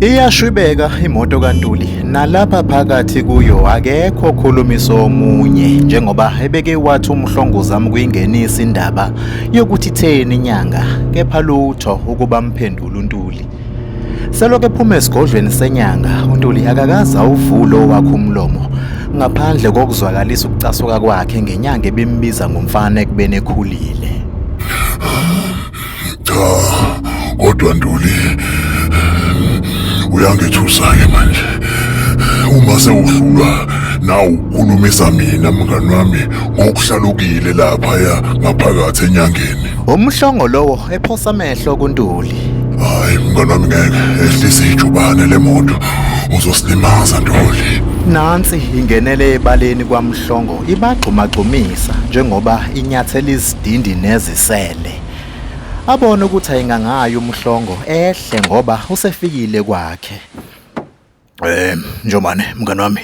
Iyashwibeka imoto kaNtuli nalapha phakathi kuyo akekho okhulumisa omunye njengoba ebeke wathi umhlongoza mkuyingenisa indaba yokuthi theni inyanga kepha lutho ukuba mphendula uNtuli. Seloke phume esigodlweni senyanga uNtuli akakaza uvulo wakhe umlomo ngaphandle kokuzwakalisa ukucasuka kwakhe ngenyanga ebimbiza ngomfana ekubeni ekhulile. Cha, kodwa Ntuli uyangethusa-ke manje uma sewuhlulwa nawu ukhulumisa mina mngani wami ngokuhlalukile laphaya ngaphakathi enyangeni Umhlongo lowo ephosa amehlo kuNtuli. hayi mngani wami ngeke ehlise ijubane lemoto uzosilimaza ntoli Nansi ingenele ebaleni kwaMhlongo ibagxumagxumisa njengoba inyathela izidindi nezisele. abone ukuthi ayingangayo umhlongo ehle ngoba usefikile kwakhe Eh njomane mngani wami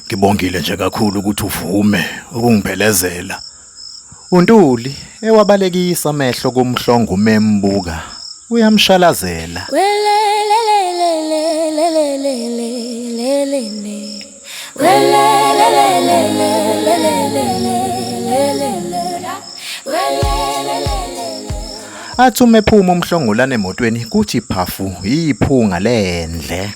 ngibongile nje kakhulu ukuthi uvume ukungiphelezela uNtuli ewabalekisa amehlo kumhlongo membuka uyamshalazela Welelelelelelelelelelelele. Athi uma ephuma umhlongolane emotweni kuthi phafu yiphunga lendle.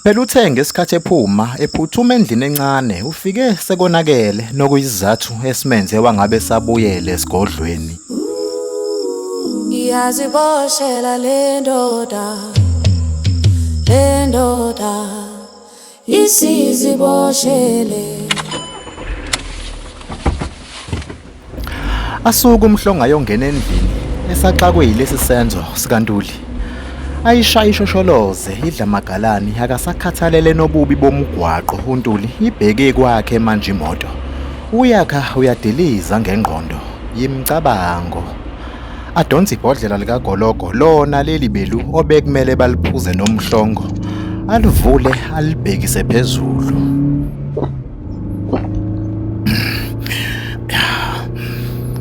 Phela uthe ngesikhathi ephuma ephuthuma endlini encane ufike sekonakele nokuyizathu esimenze wangabe sabuyele esigodlweni. Iyaziboshela le ndoda le ndoda isiziboshele Asuke umhlonga yongena endlini esaxakwe yilesi senzo sikaNtuli. Ayishaya ishosholoze idla magalani akasakhathalele nobubi bomgwaqo uNtuli ibheke kwakhe manje imoto. Uyakha uyadiliza ngengqondo yimcabango. adonse ibhodlela likagologo lona leli belu obekumele baliphuze nomhlongo alivule alibhekise phezulu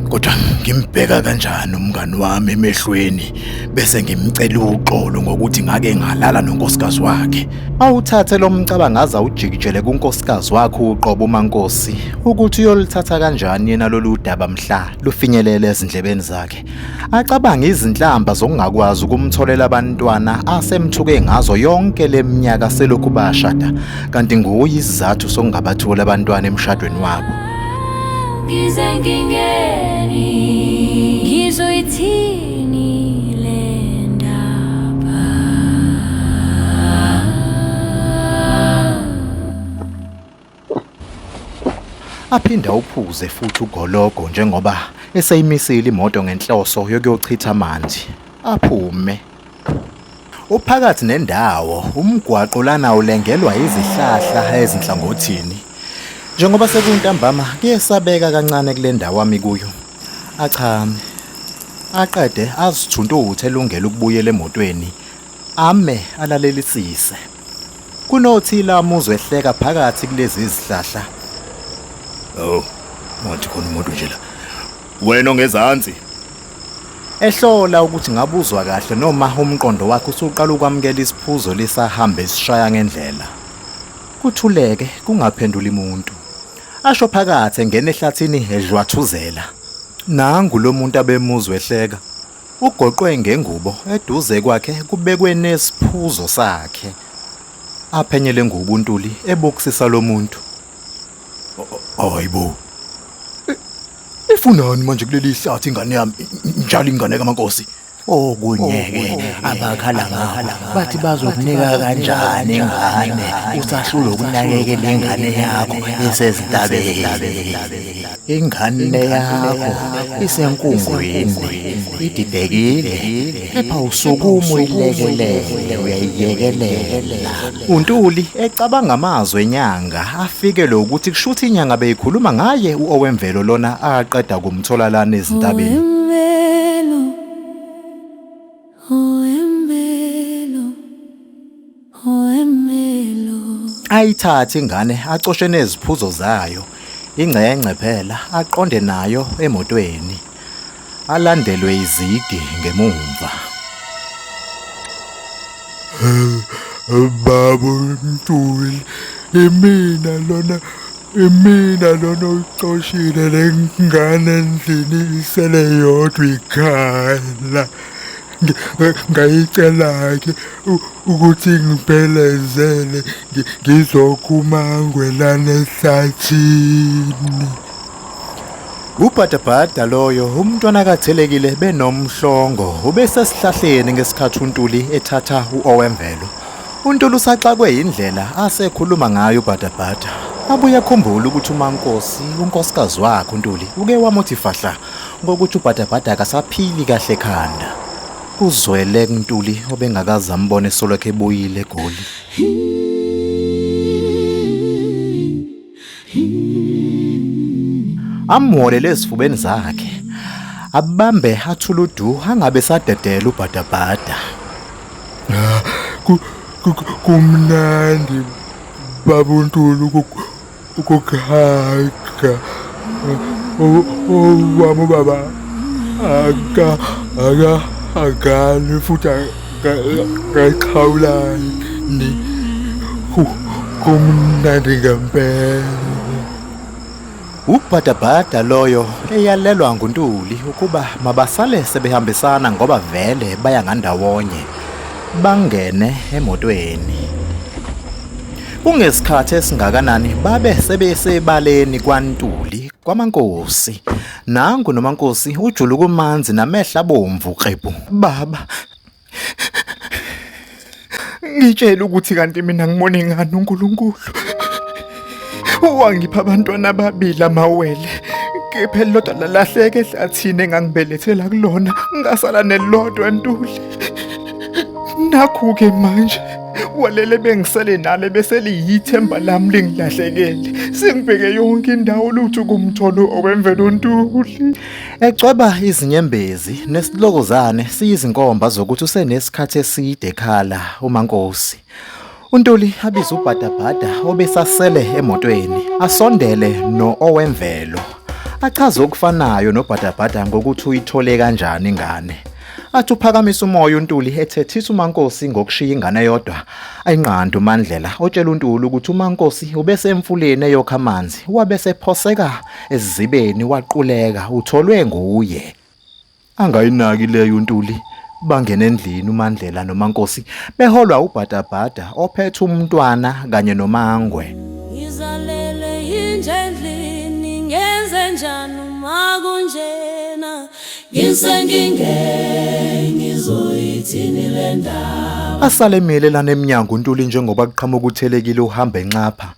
kodwa ngimbheka kanjani umngani wami emehlweni bese ngimcela uxolo ngokuthi ngake ngalala nonkosikazi wakhe awuthathe lo mcabangaza ujikijele kunkosikazi wakhe uqobo umankosi ukuthi uyolithatha kanjani yena lolu daba mhla lufinyelele ezindlebeni zakhe acabange izinhlamba zokungakwazi ukumtholela abantwana asemthuke ngazo yonke leminyaka selokhu bashada kanti nguye isizathu sokungabatholi abantwana emshadweni wabo ngize ngingeni ngizoyithini le ndaba Aphinda uphuze futhi ugologo njengoba eseyimisile imoto ngenhloso yokuyochitha amanzi. Aphume. Uphakathi nendawo, umgwaqo lana ulengelwa izihlahla ezinhlangothini. Njengoba sekuntambama kuyesabeka kancane kule ndawo ami kuyo. Achame. Aqede azithuntuthe elungela ukubuyela emotweni. Ame alalelisise. Kunothila amuzwe ehleka phakathi kulezi zihlahla. Oh, ngathi khona umuntu nje la. Wena ongezansi. Ehlola ukuthi ngabuzwa kahle noma umqondo wakhe usuqala ukwamukela isiphuzo lisahamba esishaya ngendlela. Kuthuleke kungaphenduli muntu. Asho phakathi engena ehlathini edlwathuzela. Nangu lo muntu abemuzwe ehleka. Ugoqwe ngengubo eduze kwakhe kubekwe nesiphuzo sakhe. Aphenyele ngubo uNtuli ebukisisa lo muntu. Hayibo. Ifunani manje kuleli hlathi ingane yami njalo ingane kaMankosi. Okunyeke abakhala ngakho bathi bazokunika kanjani ingane usahlulo kunakekela ingane yakho esezintabeni. Ingane yakho isenkungwini ididekile kepha usukumu ilekelele uyayiyekelela. UNtuli ecabanga amazwi enyanga afikelwe ukuthi kushuthi inyanga beyikhuluma ngaye uOwemvelo lona aqeda kumthola lana ezintabeni. Owemvelo, Owemvelo. Ayithathe ingane acoshe neziphuzo zayo ingcengce phela aqonde nayo emotweni alandelwe izigi ngemumva Babu Ntuli imina lona imina lona ucoshile lengane endlini isele yodwa ikhala ngayicela-ke ukuthi ngibhelezele ngizokumangwelane ehlathini ubhadabhada loyo umntwana kathelekile benomhlongo ubesesihlahleni ngesikhathi untuli ethatha u-owemvelo untuli usaxakwe yindlela asekhuluma ngayo ubhadabhada abuye akhumbule ukuthi umankosi unkosikazi wakhe untuli uke wamuthi fahla ngokuthi ubhadabhada akasaphili kahle ekhanda kuzwele kuntuli obengakaze ambone esolokhu ebuyile egoli amholele ezifubeni zakhe abambe athula udu angabe sadedela ubhadabhada kumnandi babuntulu ukukhakha wami ubaba aka aka akani futhi akayixhawulani ni kumnandi ngempela ubhadabhada loyo eyalelwa nguntuli ukuba mabasale sebehambisana ngoba vele baya ngandawonye bangene emotweni Kungesikhathi esingakanani babe sebesebaleni kwaNtuli kwaMankosi. Nangu noMankosi ujulu kumanzi namehla bomvu xebu. Baba Ngitshela ukuthi kanti mina ngimone ngani uNkulunkulu. Wangipha abantwana ababili amawele. Kepha elilodwa lalahleke ehlathini engangibelethela kulona ngasala nelilodwa ntuli. Nakhu-ke manje walele bengisele nale bese liyithemba lami lingilahlekele sengibheke yonke indawo lutho kumthono owemvelo ntuli ecweba izinyembezi nesilokozane siyizinkomba zokuthi usenesikhathi eside khala umankosi uNtuli abiza ubhadabhada obesasele emotweni asondele no owemvelo achaze okufanayo nobhadabhada ngokuthi uyithole kanjani ingane Athi uphakamisa umoya uNtuli ethethisa uMankosi ngokushiya ingane yodwa. Ayinqanda uMandlela otshela uNtuli ukuthi uMankosi ubesemfuleni eyokha amanzi wabe sephoseka ezibeni waquleka utholwe nguye. Angayinaki leyo uNtuli bangena endlini uMandlela noMankosi beholwa uBhadabhada ophethe umntwana kanye noMangwe. Ngizalele inje endlini ngenze njani uma kunjena Asale emile lana emnyango uNtuli njengoba kuqhamuka uthelekile uhamba enxapha.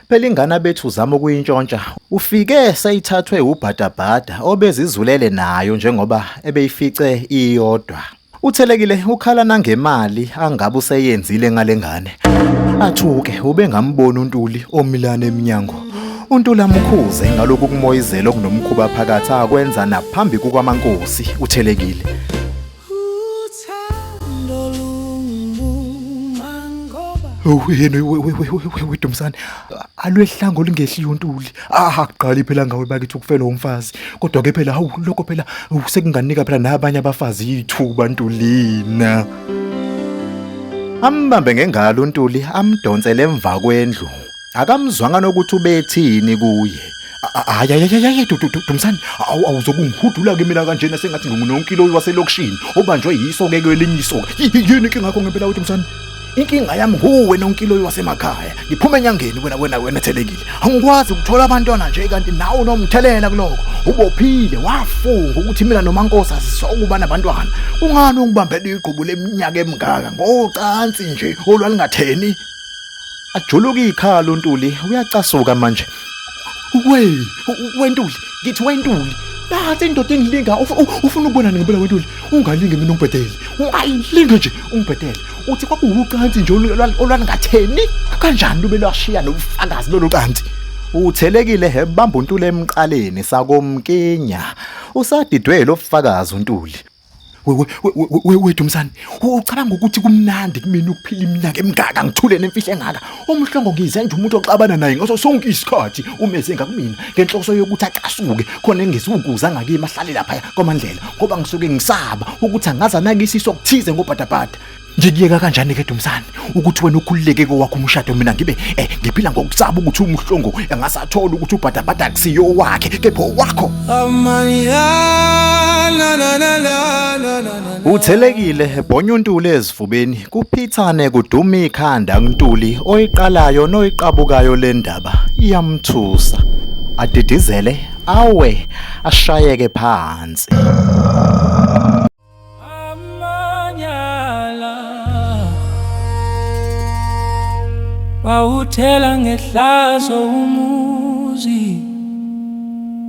Phela ingane abethu uzama ukuyintshontsha ufike seyithathwe ubhatabhada obezizulele nayo njengoba ebeyifice iyodwa. Uthelekile ukhala nangemali angabe useyenzile ngalengane. Athuke ubengamboni uNtuli omilana eminyango. UNtuli amukhuze ngalokhu kumoyizela okunomkhuba phakathi akwenza naphambi kukamankosi uthelekile. Hawu yena wedumsane alwehlanga olingehliyo uNtuli. Aha kuqali phela ngawe bakithi ukufela umfazi. kodwa ke phela hawu lokho phela sekunganika phela nabanye abafazi ithuba ntulina ambambe ngengalo untuli amdonsele emva kwendlu akamzwanga nokuthi ubethini kuye hayi hayi hayi hayi dumsani awuzokungihudula ke mina kanjena sengathi ngingunonkilo waselokishini obanjwe yiso ke kwelinye iso yini ke ngakho ngempela uthi msani inkinga yami nguwe nonkiloyi wasemakhaya ngiphume enyangeni wena wena wena thelekile angikwazi ukuthola abantwana nje kanti nawe unomthelela kuloko ubophile wafunga ukuthi mina nomankosi asisokuba nabantwana kungani ungibambela igqubu leminyaka emingaka ngocansi nje olwalingatheni ajuluka ikhalo untuli uyacasuka manje we wentuli ngithi wentuli Nathi indoda engilinga ufuna ukubona ngempela wentuli ungalinge mina ungibhedele ungalinge nje ungibhedele uthi kwakuwucansi nje olwalingatheni kanjani lube lwashiya nobufakazi lolu cansi uthelekile he bamba untuli emqaleni sakomkinya usadidwe lobufakazi untuli wethu msani ucabanga ukuthi kumnandi kumina ukuphila iminyaka emingaka ngithule nemfihlo engaka umhlongo ngize nje umuntu oxabana naye ngaso sonke isikhathi umeze ngakumina ngenhloso yokuthi acasuke khona engezukuza ngakimi ahlale lapha kwamandlela ngoba ngisuke ngisaba ukuthi angaze anakisiso kuthize ngobhadabhada nje kuyeka kanjani ke Dumsane ukuthi wena ukhululeke kowakho umshado mina ngibe eh ngiphila ngokusaba ukuthi umhlongo engasathola ukuthi ubhadabhada kusiyo wakhe kepha wakho Uthelekile ebhonya untuli ezifubeni Kuphithane kuduma ikhanda kuNtuli oyiqalayo noyiqabukayo le ndaba iyamthusa. Adidizele awe ashayeke phansi. wawuthela ngehlazo umuzi